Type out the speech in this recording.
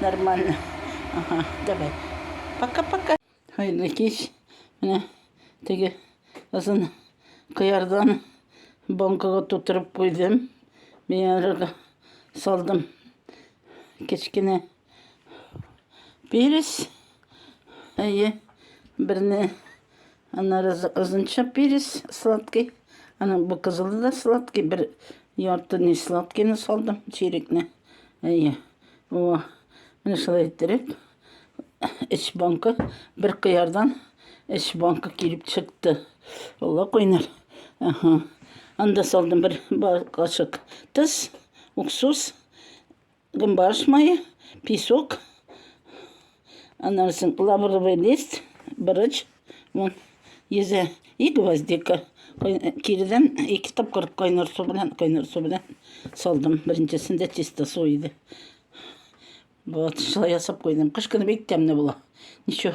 Нормально. Ага, давай. Пока-пока. Hayırlı кеш. Менә теге озын кыярдан банкага тутырып куйдым. Миярга салдым. Кечкенә перец. Әйе, берне Аннары озынча перец сладкий. Аны бу кызылы да сладкий. Бер ярты не сладкийны салдым, чирекне. Әйе. О, менә шулай иттереп, эч банка, бер кыярдан эч банка килеп чыкты. Алла куйнар. Ага. Анда салдым бер кашык тыз, уксус. Гымбарш мае, песок, анарсын лавровый лист, бырыч, вон, йөзе и гвоздика. Киридән ике тапкыр кайнар су белән, кайнар су белән салдым. Беренчесендә чисто су иде. Вот, шулай ясап куйдым. Кыш көне бик тәмле була. Ничего.